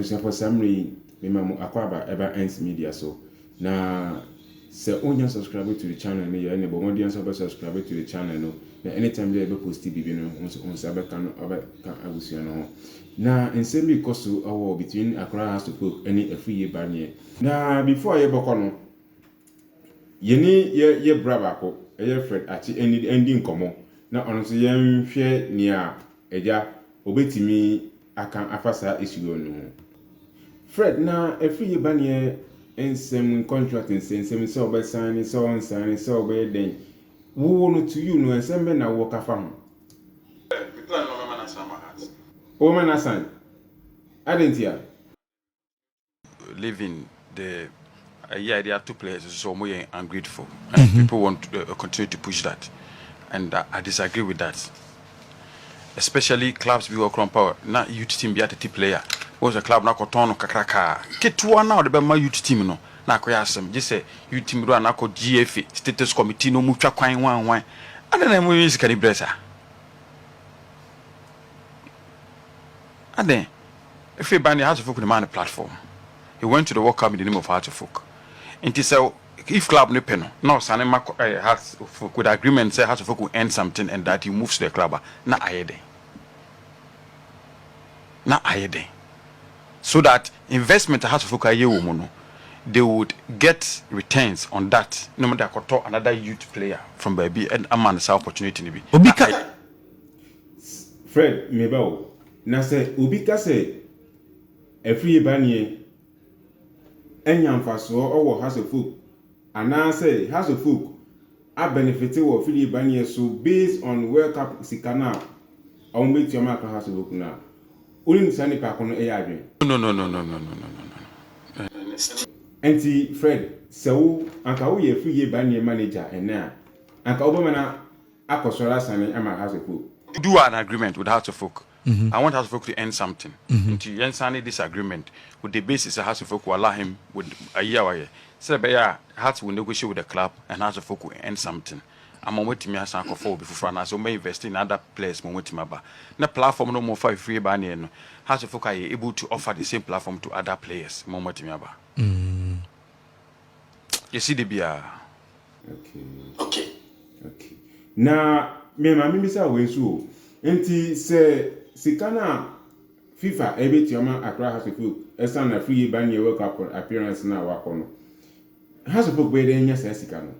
Abusuafo saa mmerɛ yi mema mo akwaaba ɛba Ernst Media so na sɛ wonnya subscribe to the channel no yɛ ɛne bɔ mmɔden ara sɛ wobɛ subscribe to the channel no na anytime bia yɛbɛ post biribi no wo nso wo nsa bɛka no wobɛka abusua no ho na nsɛm bi kɔ so wɔ between Accra House of Folk ɛne Afuiye Baneɛ na before yɛbɛkɔ no yɛne yɛ yɛ bra baako ɛyɛ Fred Akye ɛndi ɛndi nkɔmmɔ na ɔno nso yɛnhwɛ nea agya ɔbɛtumi aka afa saa asuo no ho. Fred, na ɛfiri yɛ baneɛ nsɛm mu, contract nsɛnsɛm, sɛ ɔbɛ sign, sɛ ɔn sign, sɛ ɔbɛyɛ dɛn, woo no to you no, nsɛm bɛn na wowɔ ka fa ho? Fred, me plan ne ɔbɛma no asan Mahat. Ɔbɛma no asan? Adɛn ntia? living the ɛyɛ a yɛde ato players so sɛ wɔn yɛ ungrateful and mm-hmm. people want to uh, continue to push that and uh, I disagree with that especially clubs bi wɔ kɔrɔ power na youth team bi atete player wɔn sɛ club no akɔtɔn no kakrakaa ketewa na ɔde bɛma youth team no na akɔyɛ asɛm gye sɛ youth team do a na akɔ GFA status committee no mu twa kwan hwanhwan ada na ɛmu yɛ sika ne brɛ saa adɛn. Afei ba ne Hearts of Oak no maa no platform. He went to the World Cup in the name of Hearts of Oak. Nti sɛ if club no pɛ no, na ɔsane ma kɔ ɛɛ Hearts of Oak with agreement sɛ Hearts of Oak will earn something and that he moves to the club a, na ayɛ dɛn? Na ayɛ dɛn? So that investment a Hearts of Oak ayɛ wɔ mu no, they would get returns on that na wɔde akɔtɔ another youth player from baabi ama no saa opportunity no bi. Obi ka. Fred, Me ba o, na sɛ obi ka sɛ afiri ba neɛ anya mfasoɔ wɔ House of Folk anaa sɛ House of Folk abɛnefete wɔ afiri ba neɛ so based on World Cup sika no a wɔbɛtua ma Accra House of Folk no a, wonim saa nipa ko no yɛ adwene? No, no, no, no, no, no, no, no, no, no. Ɛnti Fred, sɛ wo, anka woyɛ afiri ba neɛ manager ɛnnɛ a, anka wobɛma no a. akɔsɔre asane ama House of Folk. Do an agreement with House of Folk, I want House of Folk to end something, nti yɛnsane this agreement with the basis sɛ House of Folk will allow him with ayi a wayɛ, sɛ ɛbɛyɛ a Hearts will negotiate with the club and House of Folk will end something ama wɔatumi asan akɔfa obi foforɔ anaasɛ wɔbɛ invest in other players ma wɔatumi aba. Na platform no wɔfa fifirie baa neɛ no, House of Folk ayɛ able to offer the same platform to other players ma wɔatumi aba. Yɛsi da biara. Okay. Okay. Na me maame bisa wei nso o. Nti sɛ sika no a FIFA ɛbɛtua ma Accra House of Oak ɛsan na free ba neɛ World Cup appearance no a wakɔ no, House of Oak bɛyɛ dɛn anya saa sika no?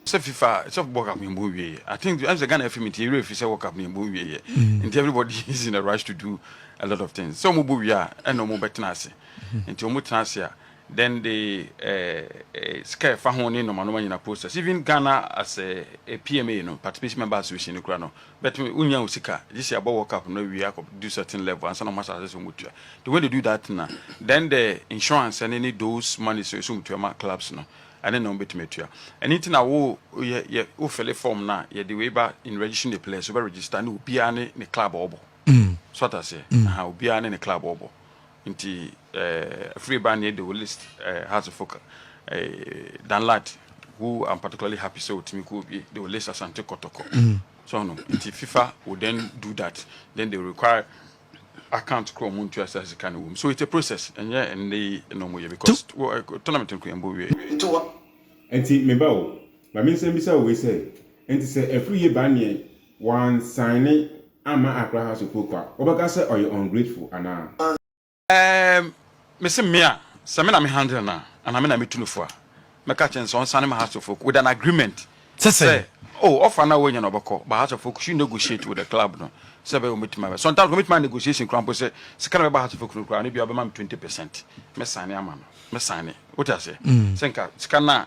sɛ fifa sɛ world cup no ɛbɔ wie i think ɛm sɛ ghana fm nti ɛwerɛ fi sɛ world cup no ɛbɔ wie yɛ nti everybody is in a rush to do a lot of things sɛ ɔmo bɔ wie a ɛna ɔmo bɛtena ase nti ɔmo tena ase a Then the scare fa ho ne nɔma nɔma nyina posters even Ghana as a PMA no participation member association no kura no but me unya wo sika gyesi abɔ world cup no wie akɔ do certain level ansa na wɔn asase so wɔn tua the way they do that na then the insurance ne ne those money so so wɔn tua ma clubs no ɛne na wɔn betumi atua ɛne ti na wo yɛ yɛ wo fele form na yɛ de wei ba in registering the players so bɛ register ne obiara ne ne club ɔbɔ so atase aha obiara ne ne club ɔbɔ. Nti eh afiri ba neɛ de wo list eh has a focal eh Dan Lat who I'm particularly happy sɛ otumi kɔ obie de wo list Asante Kɔtɔkɔ so ɔho nti fifa will then do that then they require account koro ɔmo ntua saa sika no wom so it's a process ɛnyɛ ɛnɛ yi na ɔmo yɛ because wo eh tournament no kora yɛn bɔ wiee. Nti wɔ. Nti me ba o ma me nsan bisa wo wei sɛ nti sɛ afiri yɛ ba neɛ Wɔansaine amma Accra House of Folk a, wobɛka sɛ ɔyɛ ungrateful anaa? Erm, mese me a, sɛ me na me handle no a, anaa me na metu no fo a, mɛka akyerɛ no sɛ ɔnsane ma House of Folk with an agreement sɛ, oh, offer no a wanya no ɔbɛkɔ, but House of Folk should negotiate with the club no sɛ ɛbɛyɛ wɔbɛtumi abɛ, sometimes wɔbɛtumi ayɛ negotiation koraa mpo sɛ sika no a ɛbɛba House of Folk no koraa no, ebia ɔbɛma me twenty percent, mɛsaine ama no, mɛsaine, wote aseɛ? Sɛ nka sika no a.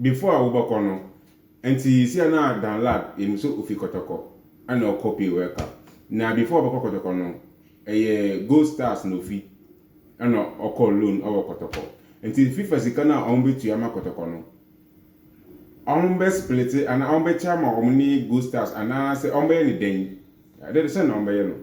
Before a wobɛkɔ no nti si a na Dan Lad yɛnim sɛ ofi kɔtɔkɔ ɛna ɔkɔ pay world cup na before ɔbɛkɔ kɔtɔkɔ no ɛyɛ gold stars na ofi ɛna ɔkɔ loan ɛwɔ kɔtɔkɔ nti fifa sika no a wɔn bɛtua ama kɔtɔkɔ no wɔn bɛ splete anaa wɔn bɛkyɛ ama wɔn ne gold stars anaasɛ wɔn bɛyɛ ne dɛn Dɛn na wɔbɛyɛ no?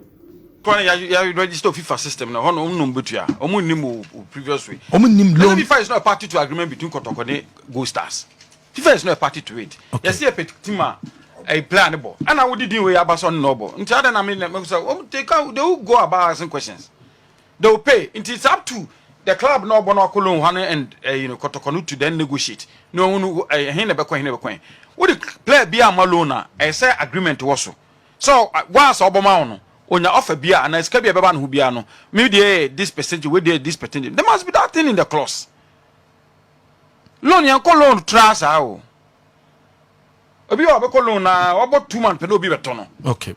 Kwan a yɛ register wɔ fifa system no hɔ no wɔn na wɔn bɛtua. Wɔn nnim o previous way. Wɔn nnim loan. Fifa is not a party to agreement between Kɔtɔkɔ ne Gold Stars. Fifa is not a party to it. Okay. Yɛsi yɛ pɛ team a ɛyɛ player ne bɔ. Ɛna wodi din wei aba sɛ ɔne na ɔbɔ. Nti adan na mi na mi sɛ wɔn they can they will go about asking questions. They will pay. Nti it's up to the club na ɔbɔ na ɔkɔ loan hɔ no and uh, you know Kɔtɔkɔ no to then negotiate. Na wɔn no ɛhin na bɛkɔ ɛhin na bɛkɔ ɛhin. Wodi player bi a ma loan a ɛsɛ agreement wɔ so. So wo a sɛ ɔbɔma wo no onya offer bia anaa sika bia ɛbɛba ne ho bia no me deɛ yɛ this percentage wei deɛ this percentage there must be that thing in the clause loan yɛn kɔ loan tra saa o obi a ɔbɛkɔ loan na wabɔ two months pɛ na obi bɛtɔ no okay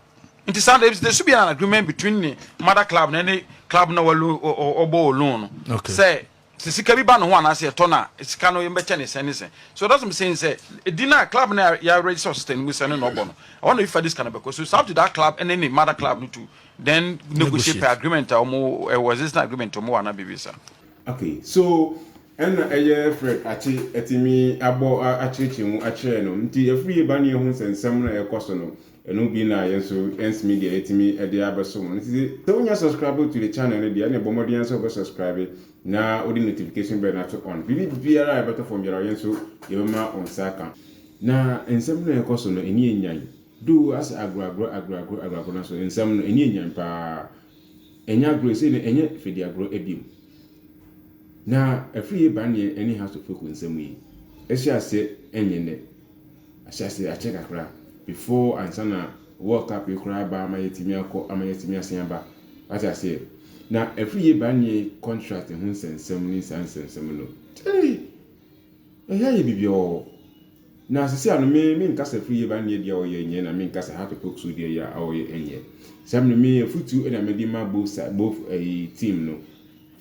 nti saa there should be an agreement between the mother club na ne club na wɔbɔ loan no sɛ Sɛ sika bi ba no ho anaasɛ yɛtɔ no a, sika no yɛbɛkyɛ no sɛn ne sɛn. So it doesn't saying sɛ edin a club no a yɛaregister wɔ system no mu sɛ ɛno na ɔbɔ no, ɛhɔ na obi fa de sika no bɛkɔ. So it's up to that club ɛne ne mother club no to then negotiate per agreement a wɔn ɛwɔ existing agreement wɔn wɔ anaa biribi saa. Okay, so ɛna ɛyɛ Fred Akye atumi abɔ akyerɛkyerɛ mu akyerɛ no nti afiri yɛ ba ne yɛhu nsɛnsɛm no a ɛkɔ so no Ɛno bi na yɛn nso yɛnseme deɛ yɛtumi de abɛso mo no nti sɛ wonya subscribe to the channel no deɛ ɛne bɔ mmɔden ara sɛ wobɛ subscribe na wode notification bell no ato on biribi biara a ɛbɛtɔ fam biara yɛn nso yɛbɛma wo nsa aka na nsɛm no a ɛkɔ so no ɛni ɛnyan do asɛ agorɔagorɔ agorɔagorɔ agorɔagorɔ no so nsɛm no ɛni ɛnyan paa ɛnyɛ agorɔ ɛsei no ɛnyɛ fɛdi agorɔ ɛbiom na afiri yɛ baneɛ ɛne house of folk nsɛm yi ɛhyɛ aseɛ ɛnyɛ nɛ ahyɛase akyɛ kakra before ansa na world cup yi koraa aba ama yɛatumi akɔ ama yɛatumi asan aba wate aseɛ na ɛfiri yɛ ba neɛ contract ho nsɛnsɛm ne saa nsɛnsɛm no ee ɛyɛ ayɛ bibiɔɔ na sisi ano me me nkasa ɛfiri yɛ ba neɛ deɛ ɔyɛ nyɛ na me nkasa how to poke so deɛ yɛ a ɔyɛ nyɛ saa mene me afutu ɛna mede ma both side both ɛyi eh, team no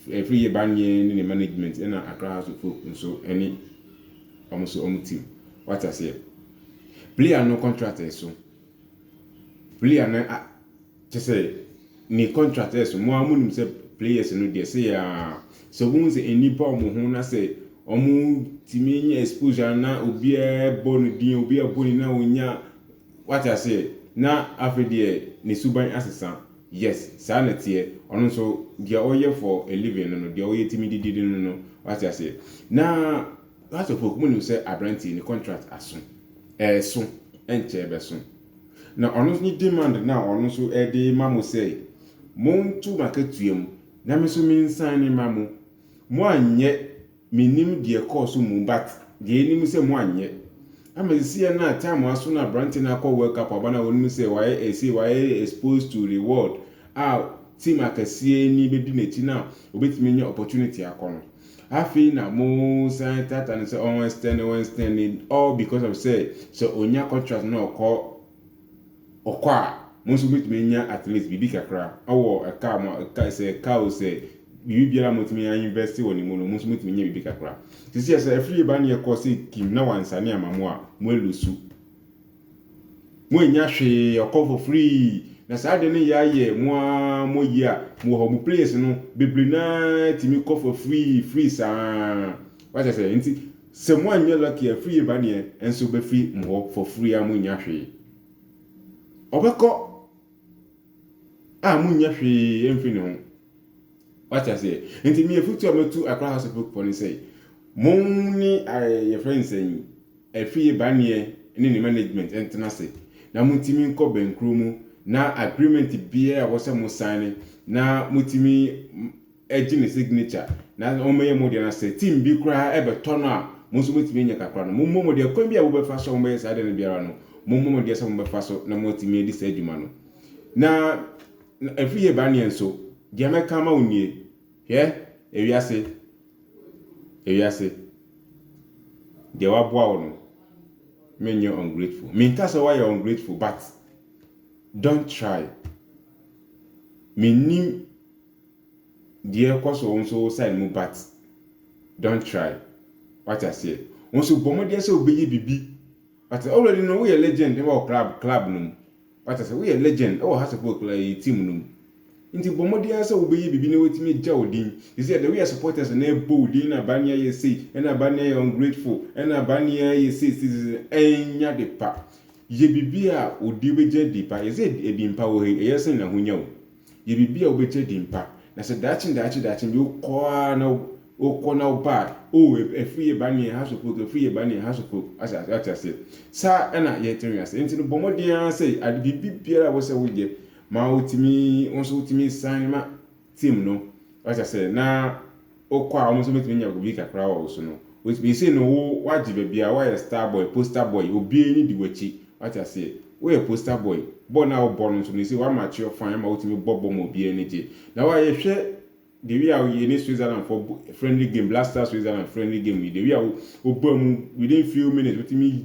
ɛfiri yɛ ba neɛ ne ne management ɛna akra house of folk nso ɛne Ɔmo so ɔmo team wate aseɛ. Player no contract ɛso player no a kyɛsɛ ne contract ɛso mo a mo nim sɛ players no deɛ sɛ yɛ a sɛ ɔmo hu sɛ ani ba ɔmo ho na sɛ ɔmo tumi nya exposure na obiara bɔ no din obiara bɔ ne na onya wate aseɛ na afei deɛ ne suban asesa yes saa na teɛ ɔno nso deɛ ɔyɛ for a living no no deɛ ɔyɛ tumi didi no no wate aseɛ na House of Oak, monim sɛ aberanteɛ yi ne contract aso, ɛreso, ɛnkyɛ ɛbɛso. Na ɔno nso ne demand no a ɔno nso ɛde ma mo sɛ, monto m'akatua mu na me nso mensan ne ma mo. Mo anyɛ, menim deɛ ɛkɔɔ so mu but deɛ ɛnim sɛ mo anyɛ. Ama sisiɛ no a time aso na aberanteɛ no akɔ World Cup aba no a wɔnim sɛ wayɛ ɛsei, wayɛ exposed to reward a team akɛseɛ ni bɛdi n'akyi no a ɔbɛtumi anya opportunity akɔ no. Afei na mo san tata no sɛ ɔn extend ɔn extend all because of sɛ sɛ onya contract na ɔkɔ ɔkɔ a mo nso mobɛtumi anya at least biribi kakra ɛwɔ ɛka mo ɛka sɛ ɛka o sɛ biribi biara motumi a invest wɔ ne mu no mo nso motumi nya biribi kakra sisi sɛ afiri ba ne ɛkɔ sɛ kim na wansane ama mo a mo alusu Mo annya hwee, ɔkɔ for free. Na saa de no yɛ ayɛ mo ara mo yi a, mo hɔ mo place no, bebree no ara tumi kɔ for free, free saa. Wasa sɛ, nti sɛ mo anyɛ lucky a free ba neɛ, ɛnso bɛfiri mo hɔ for free a mo nnya hwee. Ɔbɛkɔ a mo nnya hwee ɛmfiri ne ho. Wate aseɛ? Nti me afutu a mɛtu Accra House of Hope fɔ ne sɛ, mo ne eh, yɛfrɛ nsɛn Afie baneɛ ne ne management ntena ase na motumi nkɔ bɛnkuro mu na agreement biara a wɔsɛ mo saene na motumi gye ne signature na wɔmɛyɛ mo deɛ na sɛ team bi koraa ɛbɛtɔ no a mo nso motumi anya kakra no mommɔ mo deɛ kwan bi a wobɛfa so a wɔbɛyɛ saa deɛ no biara no mommɔ mo deɛ sɛ mobɛfa so na moatumi adi saa adwuma no na afie baneɛ nso deɛ mɛka ma wo nie Hwɛ, ewiase, ewiase, deɛ waboa wo no, menyɛ ungrateful. Menka sɛ woayɛ ungrateful, but don't try. Mennim deɛ ɛkɔ so wo nso wo side mu, but don't try. Wate aseɛ? Wo nso bɔ mmɔdeɛ sɛ wobɛyɛ biribi. But already no, woyɛ legend wɔ club, club no mu. Wate sɛ woyɛ legend wɔ ha support koraa yɛyɛ team no mu nti bɔ mmɔden ara sɛ wobɛyɛ biribi na watumi agya wo din sɛsɛ the way a supporters no ɛbɔ wo din na Barney ayɛ sei ɛna Barney ayɛ ungrateful ɛna Barney ayɛ sei sei sei ɛnyɛ ade pa yɛ biribi a odi wobɛgya di pa yɛsɛ ɛdi mpa wɔ ha yi ɛyɛ sɛn na ahonya wo Yɛ biribi a wobɛgye adi mpa. Na sɛ daakye daakye daakye bi wokɔ ara na wokɔ na woba a, oh, afiri yɛ ba neɛ hasopok, afiri yɛ ba neɛ hasopok. Ate aseɛ? Saa ɛna yɛte wiase. Nti no bɔ mmɔden ara sɛ ade biribi biara a wosɛ woyɛ ma wotumi, wo nso wotumi san ma team no. Ate aseɛ? Na wokɔ a wɔn nso bɛtumi anya obi kakra wɔ wo so no, wɔtumi sei no wo wagye baabi a woayɛ star boy, poster boy, obi ani di w'akyi, wate aseɛ, woyɛ poster boy, bɔ no a wobɔ no nso no sei woamature fine ama wotumi bɔ bɔ ma obi ani gye. Na wo a yɛhwɛ the way a yɛne Switzerland fɔ friendly game, Black Star Switzerland friendly game yi, the way a wobɔ mu within few minutes wotumi